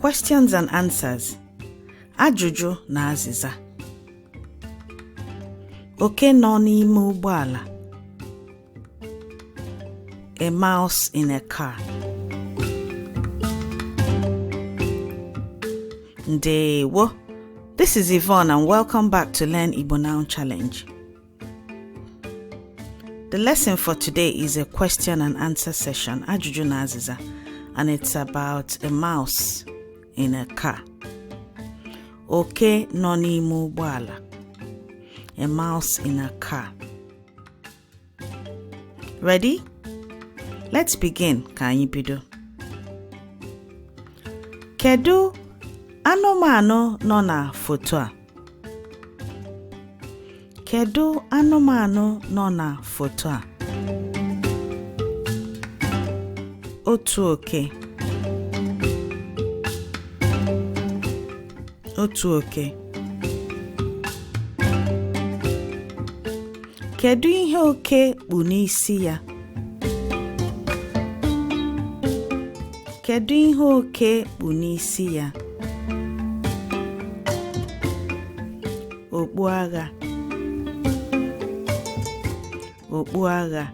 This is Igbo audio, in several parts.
Questions and answers Ajụjụ na azịza Oke nọ n'ime ụgbọala A mouse in a car Ndewo This is Yvonne and welcome back to Learn Igbo Now Challenge. The lesson for today is a question and answer session, Ajụjụ na Azịza, and it's about a mouse in a car. Oke nọ n'ime ụgbọala. A mouse in a car. Ready? Let's begin ka anyị bido. Kedu anụmanụ nọ na foto a? Kedu anụmanụ nọ na foto a? Otu oke. Otu oke. Kedu ihe oke kpu n'isi ya? Kedu ihe oke kpu n'isi ya? Okpu agha. Okpu agha.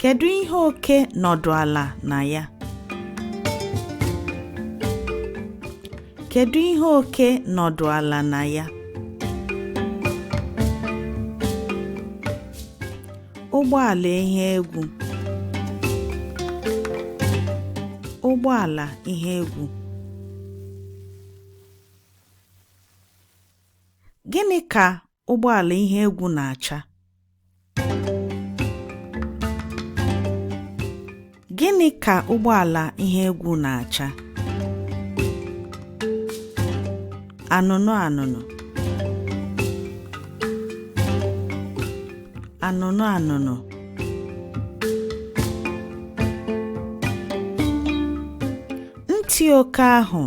Kedu ihe oke nọdụ ala na ya? Kedu ihe oke nọdụ ala na ya? Ụgbọala ihe egwu. Ụgbọala ihe egwu. Gịnị ka ụgbọala ihe egwu na-acha gịnị ka ụgbọala ihe egwu na-acha anụnụ anụnụ anụnụ anụnụ ntị oke ahụ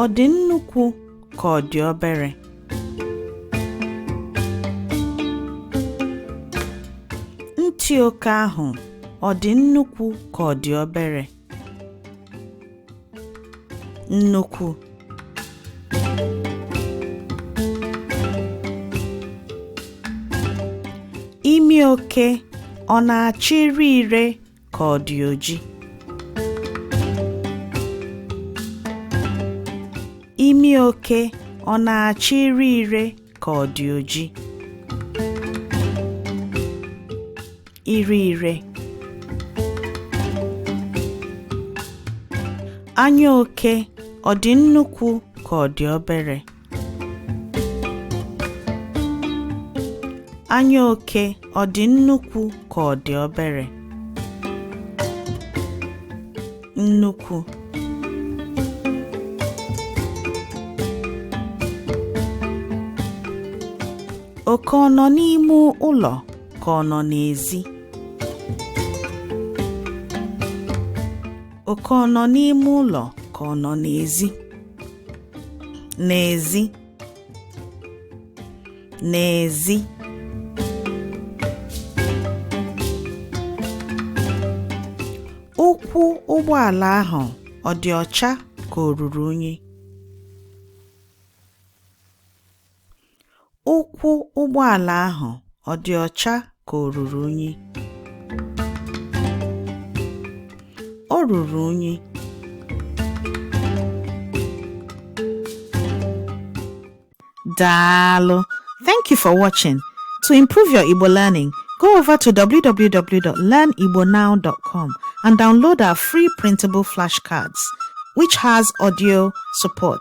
Ọ dị nnukwu ka ọ dị obere? Ntị oke ahụ ọ dị nnukwu ka ọ dị obere? Nnukwu. Imi oke ọ na-acha ire ire ka ọ dị oji imi oke ọ na-acha ire ire ka ọ dị oji ire ire anya oke ọ dị nnukwu ka ọ dị obere Anya oke ọ dị nnukwu ka ọ dị obere? Nnukwu. Oke ọ nọ n'ime ụlọ ka ọ nọ n'ezi? Oke ọ nọ n'ime ụlọ ka ọ nọ n'ezi? n'ezi n'ezi ụkwụ ụgbọala ahụ ọ dị ọcha ka o ruru unyi Ụkwụ ụgbọala ahụ ọ dị ọcha ka o ruru unyi? O ruru unyi. Daalụ. Thank you for watching. To improve your Igbo learning, go over to www.learnigbonow.com and download our free printable flashcards, which has audio support.